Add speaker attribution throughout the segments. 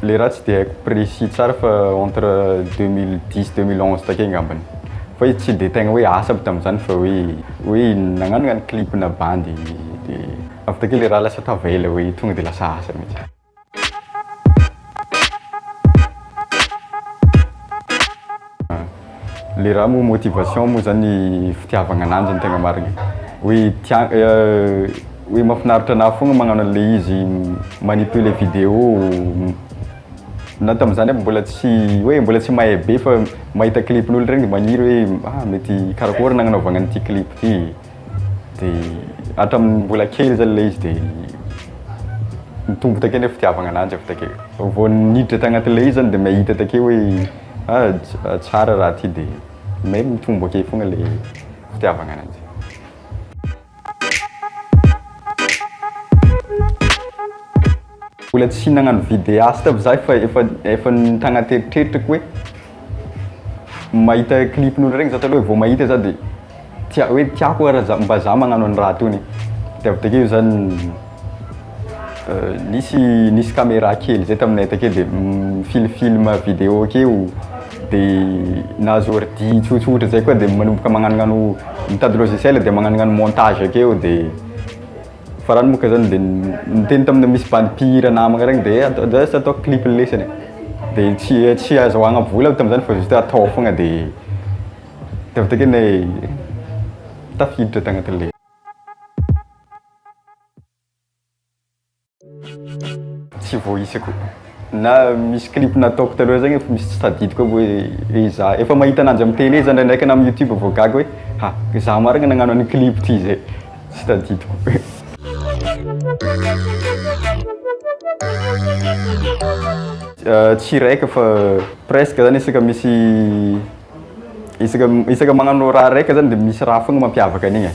Speaker 1: Le raha tsy dia haiko précis tsara fa entre deux mille dix, deux mille onze takeo angambany. Fa izy tsy dia tegna hoe asa aby tamin'izany fa hoe hoe nagnanona ny clip-na bandy dia. Avy takeo le ra lasa tava ela hoe tonga de lasa asa mintsy. Le ra moa motivation moa zany fitiavagna ananjy no tegna marigny hoe tia hoe mafinaritra anah fogna magnano anle izy magnippue le video na tamzany aby mbola tsy hoe mbola tsy mahay be fa mahita clip n'olo regny de magniry hoe ah mety karakôry nagnanaovagna an'ity clip ty. dia hatramin'ny mbola kely zany ilay izy dia mitombo takeo ny fitiavagna ananjy avy takeo vao niditra tagnatin'ilay izy zany dia mahita takeo hoe ah tsara raha ty dia may mitombo akeo fogna le fitiavagna ananjy Mbola tsy nagnano videast aby za fa efa efa tagnaty eritreritrako hoe mahita clipn'olo regny za taloha vao mahita za de tia hoe tiako ara za mba za magnano an'i raha tony de avy takeo za nisy nisy camera kely zay taminay takeo de mifily film video akeo de nahazo ordi tsotsotra zay koa de manomboka magnanognano mitady logiciel de magnanognano montage akeo de Farany moa ka zany dia niteny tamina misy bandy mpihira namagna regny dia eh, atao just atao clip lesany e. Dia tsy tsy azahoagna vola aby tam'zany fa juste atao foagna dia dia avy takeo ne tafiditra tagnatin'le Tsy voaisa ko. Na misy clip nataoko taloha zay nefa misy tsy tadidiko aby hoe hoe za. Efa mahita ananjy am télé za ndraindraika na am youtube vao gaga hoe ha za marigny nagnano an'igny clip ty zay. Tsy tadidiko. Tsy raiky fa presque zany isaka misy isaka isaka magnano raha raiky zany de misy raha fogna mampiavaka an'igny e.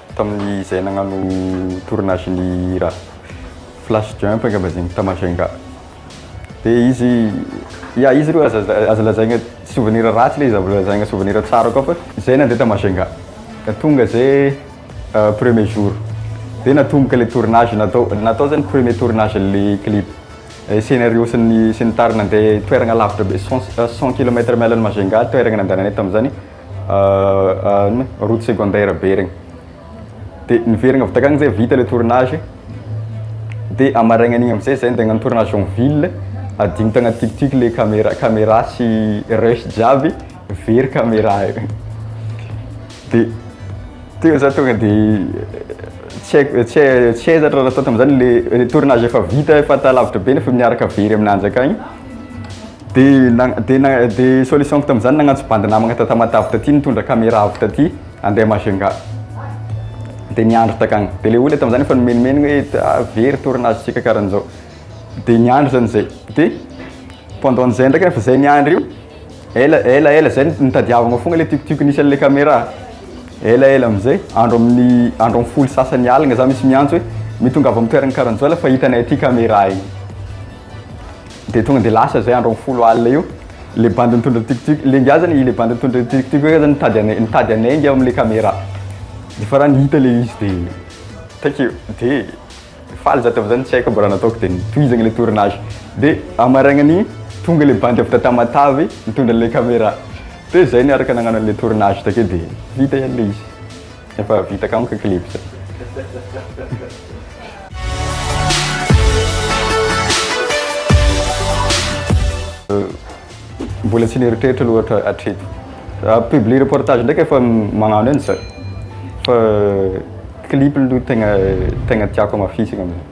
Speaker 1: Tamin'izay nagnano tournage ny hira Flash Jump angamba izy igny ta Majunga. De izy, ya izy aloha aza aza lazaigna souvenir ratsy le izy aza lazaigna souvenir tsara koa fa zay nandeha ta Majunga de tonga zay premier jour de natomboka le tournage natao, natao zany premier tournage an'le clip. Scenario sy ny sy ny tariny nandeha toeragna lavitra be cent cent kilomètre miala an'i Majunga toeragna nandehananay tamin'izany route secondaire be regny dia niverina avy takagny zay vita le tournage dia amaraigna an'igny amizay zay ndeha hagnano tournage en ville adigno tagnaty tic tic le camera camera sy rush jiaby very camera io dia teo za tonga de tsy haiko tsy hay tsy hay za raha nataoko tamizany le tournage efa vita efa talavitra be nefa miaraka very aminanjy akagny Dia dia na dia solution-ko tamin'izany nagnantso bandy namagna ta Tamatave taty nitondra camera avy taty handeha Majunga dia niandry takagny dia le olona tamin'izany efa nimenomenogna hoe ta very tournage tsika karan'izao dia niandry zany zay dia pendant an'izay ndraika efa zay niandry io ela ela ela zay nitadiavagna fogna le tiokotioka nisy an'le camera ela ela am'zay andro amin'ny andro amin'ny folo sasany aligna za misy miantso hoe mitongava amin'ny toeragna karan'izao la fa hitanay aty camera igny Dia tonga dia lasa izay andro amin'ny folo alina io, ilay bandy nitondra ny tuk-tuk, ilay ingahy izany, ilay bandy nitondra ny tuk-tuk io angamba nitady anay, nitady anay ingahy amin'ilay caméra. Dia farany hita ilay izy dia takeo, dia faly za tamin'izany, tsy haiko aby raha nataoko dia nitohizana ilay tournage. Dia amin'ny marainan'iny, tonga ilay bandy avy taty Tamatave nitondra an'ilay caméra. Dia izay no niaraka nagnano an'ilay tournage takeo dia hita ihany ilay izy. Efa vita kamo ka clip zay. Mbola tsy neritreritra aloha hatra- hatreto. Ah, publie reportage ndraiky efa m- magnano eny zay. Fa clip aloha tegna tegna tiako amafisina amin'izay.